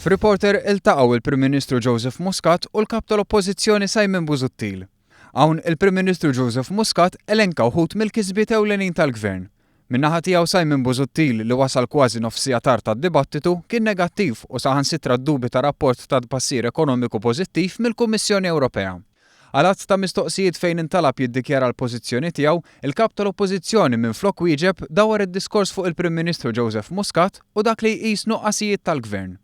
F'Reporter iltaqgħu l-Prim Ministru Joseph Muscat u l-Kap tal-Oppożizzjoni Simon Busuttil. Hawn il-Prim Ministru Joseph Muscat elenka wħud mill-kisbiet ewlenin tal-Gvern. Min-naħa tiegħu Simon Busuttil li wasal kważi nofs siegħa tard għad-dibattitu kien negattiv u saħansitra ddubita rapport ta' tbassir ekonomiku pożittiv mill-Kummissjoni Ewropea. Għal għadd ta' mistoqsijiet fejn intalab jiddikjara l-pożizzjoni tiegħu, il-Kap tal-Oppożizzjoni minflok wieġeb dawwar id-diskors fuq il-Prim Ministru Joseph Muscat u dak li jqis nuqqasijiet tal-Gvern.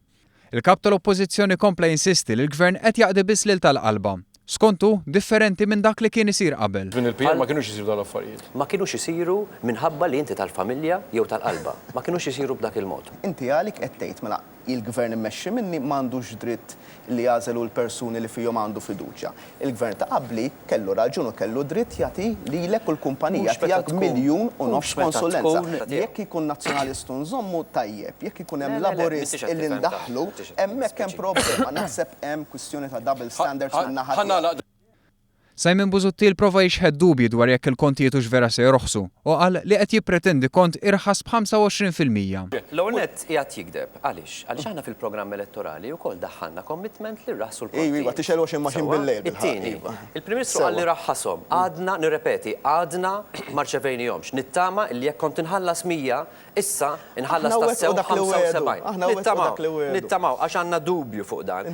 Il-Kap tal-Oppożizzjoni kompla jinsisti li l-Gvern qed jaqdi biss lil tal-qalba. Skont hu, differenti minn dak li kien isir qabel. Żmien il-PM ma kinux isiru dawn l-affarijiet. Ma kinux isiru minħabba li inti tal-familja jew tal-qalba. Ma kinux isiru b'dak il-mod. Inti għalik qed tgħid, mela, Il-Gvern immexxi minni ma għandux dritt li jagħżel hu l-persuni li fihom għandu fiduċja. Il-Gvern ta' qabli kellu raġun u kellu dritt jagħti lilek u l-kumpanija tiegħek miljun u nofs konsulenza. Jekk ikun Nazzjonalist u nżommu, tajjeb. Jekk ikun hemm Laburist illi ndaħħlu, hemmhekk hemm problema. Naħseb hemm kwistjoni ta' double standards min-naħa tiegħek. Simon Busuttil prova jixħet dubji dwar jekk il-kontijiet hux vera se jorħsu u qal li qed jippretendi kont irħas b'25 fil-mija. L-ewwel nett qiegħed jigdeb. Għaliex? Għaliex aħna fil-programm elettorali wkoll daħħalna commitment li rraħħsu l-kontijiet. Iva, iva, tixgħel 20 machine bil-lejl bil-ħaqq. Sewwa. It-tieni, il-Prim Ministru qal li raħħashom. Għadna, nirrepeti, għadna ma rċevejnihomx. Nittama li jekk kont inħallas 100, issa nħallas tassew 75. Aħna wettqu dak li wiegħdu. Nittamaw, nittamaw, għax għandna dubju fuq dan.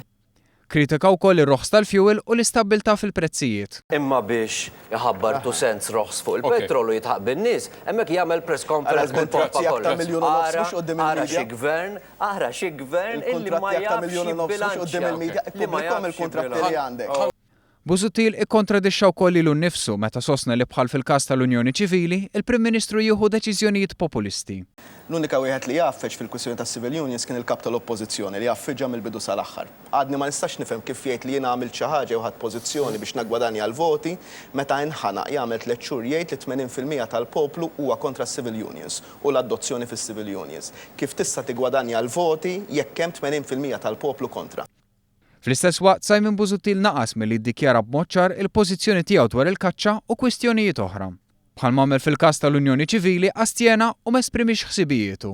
Kritika wkoll ir-roħs tal-fjuwil u l-istabbiltà fil-prezzijiet. Imma biex iħabbar two cents roħs fuq il-petrol u jidħaq bin-nies, hemmhekk jagħmel press conference bil-pompa kollox. Ara, ara xi Gvern, ara xi Gvern illi ma jafx jibbilanċja, li ma jafx jibbilanċja. Busuttil ikkontradixxa wkoll lilu nnifsu meta sostna li bħal fil-każ tal-unjoni ċivili, il-Prim Ministru jieħu deċiżjonijiet populisti. L-unika wieħed li għaffeġ fil-kwistjoni tas-civil unions kien il-Kap tal-Oppożizzjoni li għaffiġha mill-bidu sal-aħħar. Għadni ma nistax nifhem kif jgħid li jien għamilt xi ħaġa jew ħadt pożizzjoni biex naggwadanja l-voti meta inħanaq jagħmel tliet xhur jgħid li t-tmenin fil-mija tal-poplu huwa kontra s-civil unions u l-adozzjoni fis-civil unions. Kif tista' tiggwadanja l-voti jekk hemm tmenin fil-mija tal-poplu kontra? Fl-istess waqt, Simon Busuttil naqas milli jiddikjara b'mod ċar il-pożizzjoni tiegħu dwar il-kaċċa u kwistjonijiet oħra. Bħalma għamel fil-każ tal-Unjoni Ċivili, astjena u ma esprimiex ħsibijietu.